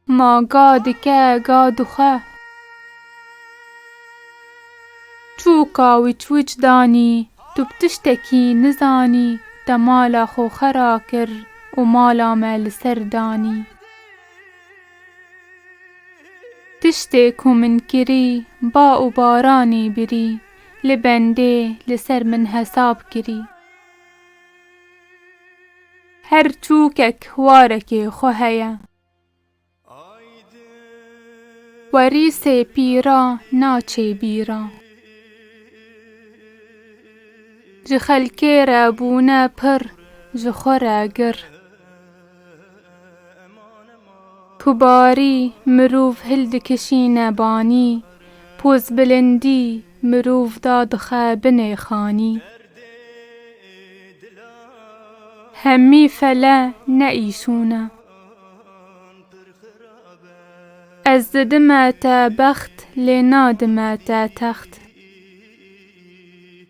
Ma ga dike ga dixwe. Çûka wîçwîç danî tu bi tiştekî nizanî te mala xwe xera kir û mala me li ser danî. Tiştê ku min kirî ba û baranî birî li bendê li ser min hesab kirî. Her çûkek warekê xwe heye. Werî sê pîra naçê bîra. Ji xelkê re bûne pir, ji xwe re gir. Ku barî mirov hil dikişîne banî, pozbilindî mirov da dixe binê xanî. Hemî fele ne îşûn e. Ez didime te bext lê nadime te text.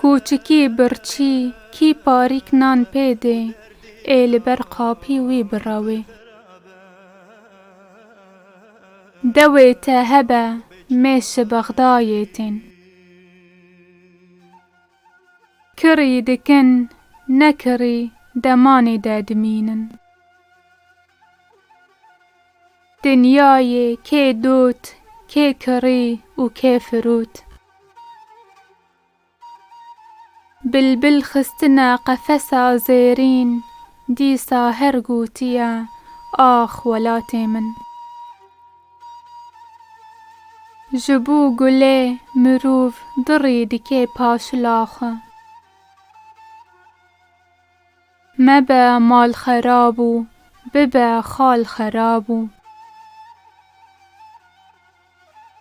Kûçikî birçî kî parîk nan pê dê ê li ber qapî wî birawê. Dewê te hebe mêşi Bexdayê tên. Kirî dikin, ne kirî demanê de dimînin. Dinyayê kê dût, kê kirî û kê firût. Bilbil xistine qefesa zêrîn, dîsa her gûtiye, Ax welatê min! Ji bo gulê mirov dirî dike paşila xwe. Mebe mal xerab û bibe xal xerab û.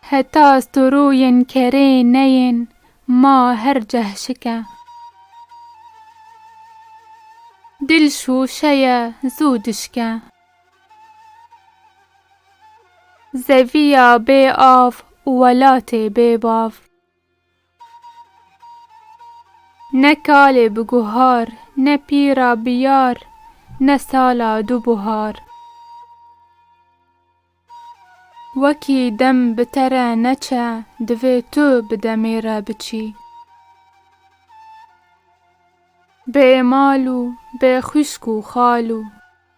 Heta storoyên kerê neyên ma her cehşik e. Dil şûşe ye zû dişke. Zevîya bê av û welatê bê bav. Ne kalê bi guhar, ne pîra bi yar, ne sala du buhar. Wekî dem bi te re neçe, divê tu bi demê re biçî. Bê mal û bê xwîşk û xal û.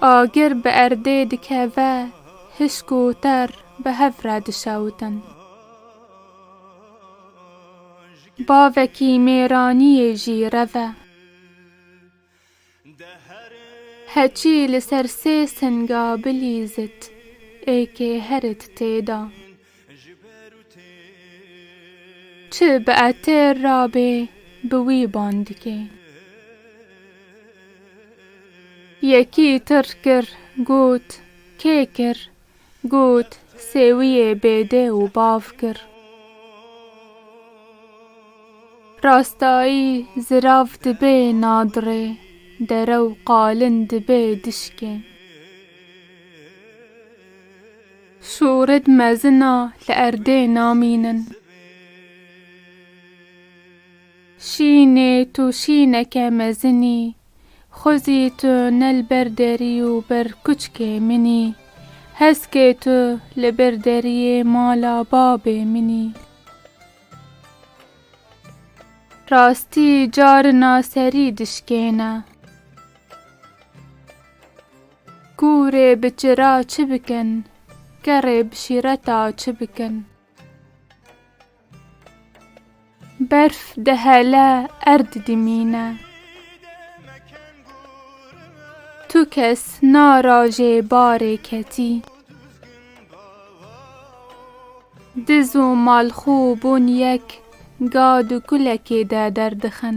Agir bi erdê dikeve, hişk û ter bi hev re dişewitin. Bavekî mêraniyê jî rev e. Heçî li ser sê singa bilîzit, êkê herit tê da. Çi bi etêr ra bê bi wî ban dikê. Yekî tir kir got kê kir got sêwiyê bêdê û bav kir. Rastayî zirav dibê nadirê dere û qalin dibê dişkê. Şorid mezina li erdê namînin. Şînê tu şîneke mezinî. Xwezî tu ne li ber derî û ber kuçkê minî. Heskê tu li bir deriyê mala babê minî. Rastî carina serî dişkêne. Ku rê bi çira çi bikin. Ke rê bi şîreta çi bikin. Berf dihele erd dimîne. Tu kes na rajê barê ketî. Diz û malxû bûn yek ga du kulekê de derdixin.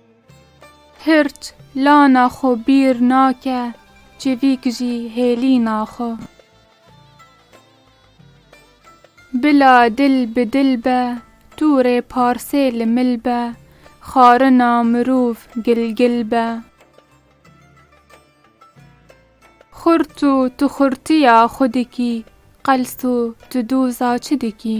Hirç lana xwe bîr nake, civîk jî hêlîna xwe. Bila dil bi dil be, tu rê parsê li mil be, xarina mirov gilgil be. Xurt û tu xurtiya xwe dikî, qels û tu doza çi dikî?